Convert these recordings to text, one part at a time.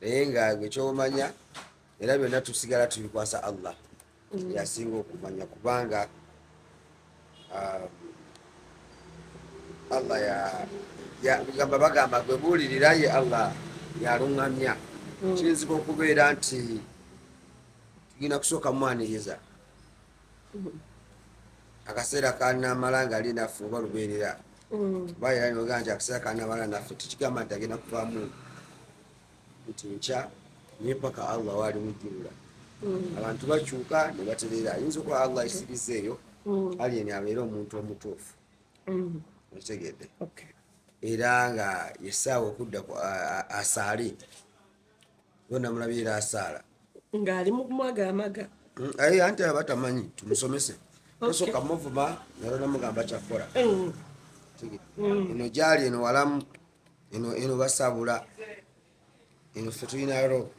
naye nga gwe kyomanya era byonna tusigala tubikwasa allah mm. yasinga okumanya kubanga um, allah yagamba bagamba gwe buulirira ye allah yaluŋŋamya mm. kiyinzika okubeera nti tugenda kusooka mwaniriza mm. akaseera kanamala nga ali naffe oba lubeerera mm. bayira noga nti akaseera kanabala naffe tekigamba nti agenda kuvamu nti nkya naye paka allah waali mujjulula mm. abantu bakyuka ne batereera ayinza okuba allah isiriza eyo mm. alien abeere omuntu omutuufu okitegedde era nga yesaawa okudda asaali yona mulabyera asaala ngaali mukumwaga amaga mm, aye anti aba tamanyi tumusomese osoka muvuma nalona mugamba kyakkola mm. mm. eno gyali eno walamu eno eno basabula eno fe tulina ro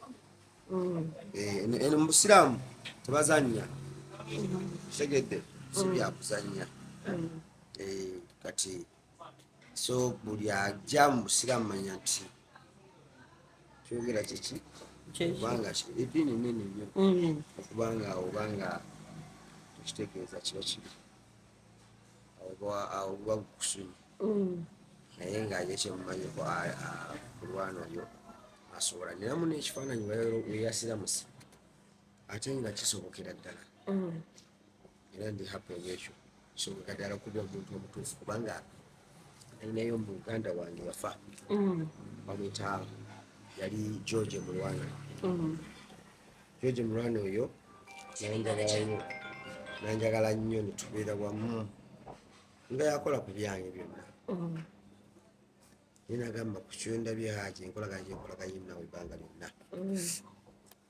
eh, eno mubusiraamu tebazanya kitegedde sibyakuzanya eh, kati so buli ajja mu busiraamu manya nti kyogera kyeki kubanga eddiini nene nnyo mm. okubanga obanga ekitegeeza kiba kibi awo buba bukusunyi mm. naye nga ye kyemumanyiko kulwana oyo asobola neramu nekifaananyi weyasiramusi ate nga kisobokera ddala mm. era ndi happy olwekyo so kadala kuba omuntu omutuufu kubanga alinayo muganda wange yafa mm. bamwita yali george mulwana mm. george mulwana oyo nanjagalayo nanjagala nnyo netubeera wamu nga yakola ku byange byonna mm. naye nagamba ku kyendabye haji enkolagana gyenkolaganye nawe ebbanga lyonna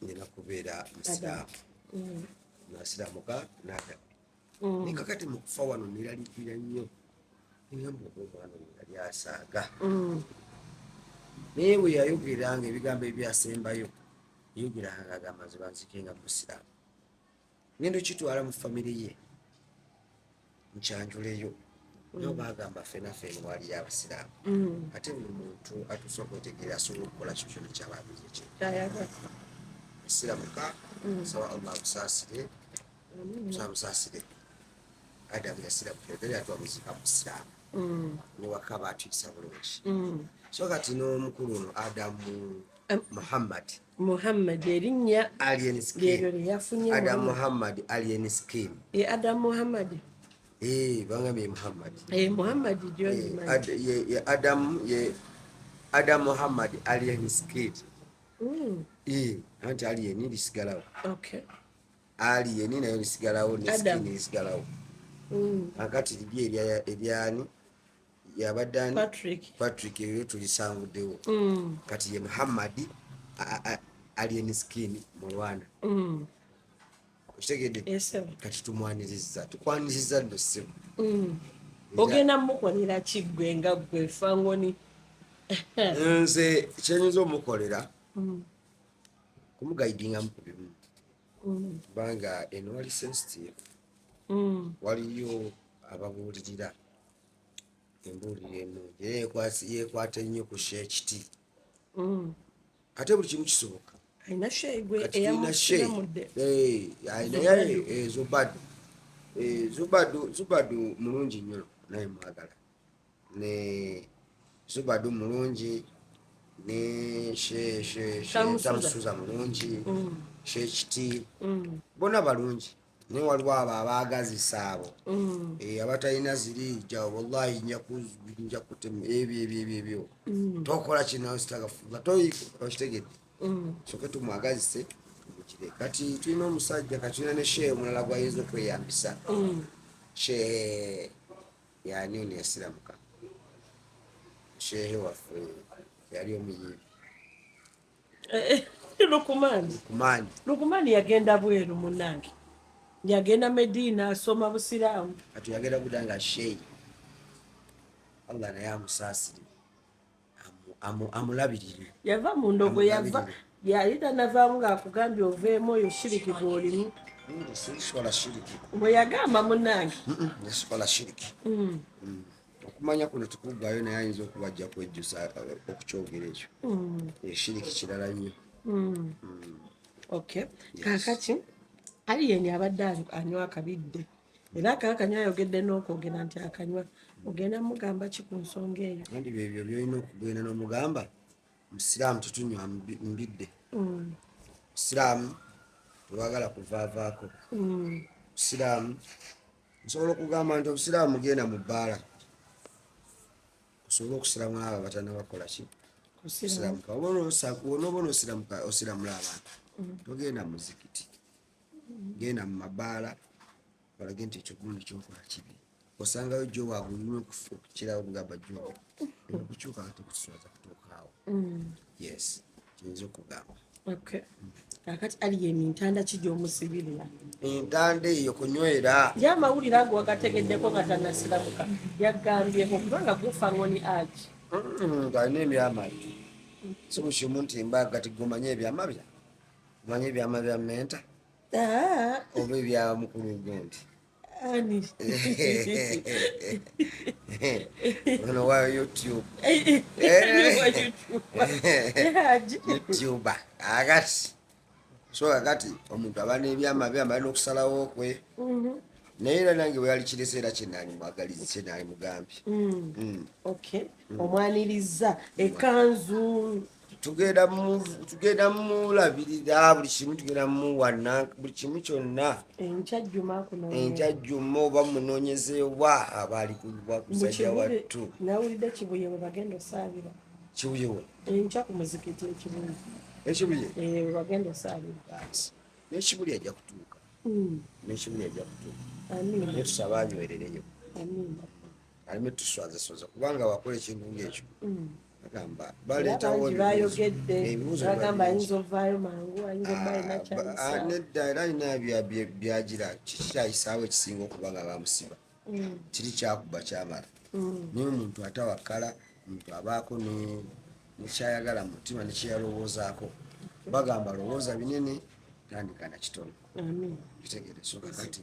nina mm. kubeera musiraamu mm. nasiraamuka nadamu mm. naye kakati mukufa wano neralikira nnyo nigamba oba omwana oyo yali asaaga naye bwe yayogeranga ebigambo ebyasembayo yayogeranga agamba nze banzike nga musiraamu ngenda okitwala mu famire ye nkyanjuleyo nyo mm. bagamba fena fena wali abasiraamu mm. ate buli muntu atuuse okwetegeera asobola okukola kyo kyona kyababizi kye siramuka mm. saba allah amusaasire samusaasire adamu yasiramuka ebere atu amuzika musiraamu newaka baatuyisa bulungi so kati n'omukulu ono adamu muhammadi Muhammad erinnya Alien Skin Adam Muhammad Alien Skin e Adam Muhammad eh bangambye Muhammad eh Muhammad John ye Adam ye Adam Muhammad Alien Skin mm eh anti Alien lisigalawo okay Alien nayo lisigalawo ne skin lisigalawo mm akati libye ebyani yabadde ani patrick eyo tulisanguddewo mm. kati ye muhammadi alien skin mu rwanda mm. okitegedde kati tumwaniriza tukwaniriza nno ssebo mm. ogenda mukolera kiggwe nga gwe fangoni nze kyenyinza omukolera kumugaidingamu ku bimu kubanga eno wali sensitive waliyo ababuulirira embuulira ennungi era yekwata ennyo ku sheekiti mm. ate buli kimu kisoboka alina sheegwenaye eh, zubadu eh, zubadu zubadu mulungi nnyo naye mwagala ne zubadu mulungi ne tamusuza mulungi mm. sheekiti mm. bona balungi naye waliwo abo abaagazisa abo mm. eh, abatalina ziri jawo wallahi nja kutema ebyo ebyo ebyo ebyo mm. tokola kinasitagafuga toyikitegedde mm. soke tumwagazise tumukire kati tulina omusajja kati tulina ne shehe omulala gwayinza okweyambisa shehe yani ono yasiramuka shehe waffe yali omuyimbi lukumaani lukumaani lukumaani yagenda bweru munange yagenda medina asoma busiraamu kati yagenda kuda nga sheyi allah naye amusaasire amulabirire yava mu ndogo yava yali tanavaamu ngaakugambye oveemu oyo shiriki gwolimu sikola shiriki bwe yagamba munange sikola shiriki mm. mm. okumanya kuno tikuggwayo naye ayinza okuba ajja kwejjusa uh, okukyogera ekyo eshiriki mm. kirala nnyo mm. mm. ok kakaki aliyeni abadde anywa akabidde era kakanywa ayogedde n'okwogera nti akanywa ogenda mugamba ki ku nsonga eyo andi byebyo byolina okugenda n'omugamba musiraamu tutunywa mbidde musiraamu tewagala kuvaavaako musiraamu nsobola okugamba nti obusiraamu mugenda mu bbaala osobole okusiramu abo batanabakola ki osiramuka onoba onosiramuka osiramula abantu mm. togenda muzikiti genda mu mabaala olage nti ekyo gundi kyokola kibi osangayo jo waabulina okukirawo bugamba jo okukyuka nga tekuswaza kutuukaawo mm. yes kiyinza okugamba okay kakati ali yeni ntanda ki gyomusibirira entanda eyo kunywera ye amawulire ago wagategeddeko nga tanasiramuka yaggambyeko kubanga gufa ngoni agi ngalina ebyama bye sibukimu nti mbaga ti gumanye ebyama bya manye ebyama bya menta ah. oba ebya mukulu gundi Ani. Ono wa YouTube. YouTuber. Agati. So agati omuntu aba n'ebyama bye amala n'okusalawo kwe. Mhm. naye era nange bwe yali kirese era kyenaali mwagaliza kyenaali mugambye mm. mm. mm. omwanirizza ekanzu tugenda tugenda mulabirira buli kimu tugenda muwana buli kimu kyonna enkya jjuma oba munonyeze oba abaali kuwa kusajja wattu nawulidde kibuye we bagenda osaabira kibuye we enkya ku muzikiti ekibuye ekibuye eh, we bagenda osaabira nekibuli ajja kutuuka hmm. nekibuli ajja kutuuka netusaba anywerereyo aleme tuswazasoza kubanga wakola ekintu ngaekyo mm. agamba baleetawo ebibuuzonedda era alina byagira kikyayisaawo ekisinga okuba nga bamusiba mm. kiri kyakuba kyamala mm. naye omuntu atawakala omuntu abaako nekyayagala mu mutima nekyeyalowoozaako bagamba lowooza binene tandika na kitono kitegereso kakati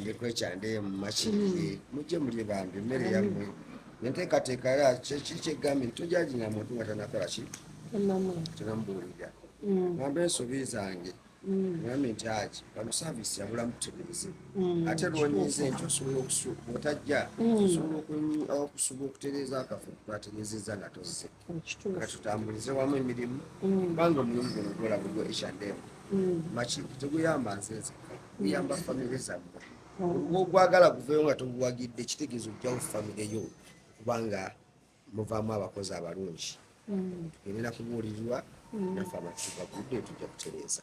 ndikwekyandeye mumakirire mujje mulye bambi emmere yammwe enteekateeka ya kyekiri kyegambye nti tojalina muntu nga tanakola ki tenamubuulira ngambe ensobi zange ngambye nti aki bano saavisi yabula mutereeze ate lwonyize nti osobola otajja osobola okusuba okutereeza akafu twatereezezza nga tozze katutambulize wamu emirimu mm. kubanga omulimu guno gwola gugwo ekyademu mm. makintu teguyamba nze nzeka guyamba mm. famire zammwe olwo ogwagala guveyo nga toguwagidde kitegeeza ojjawo famire yo kubanga muvaamu abakozi abalungi tugende nakubuulirirwa nafe amatugagudde tujja kutereeza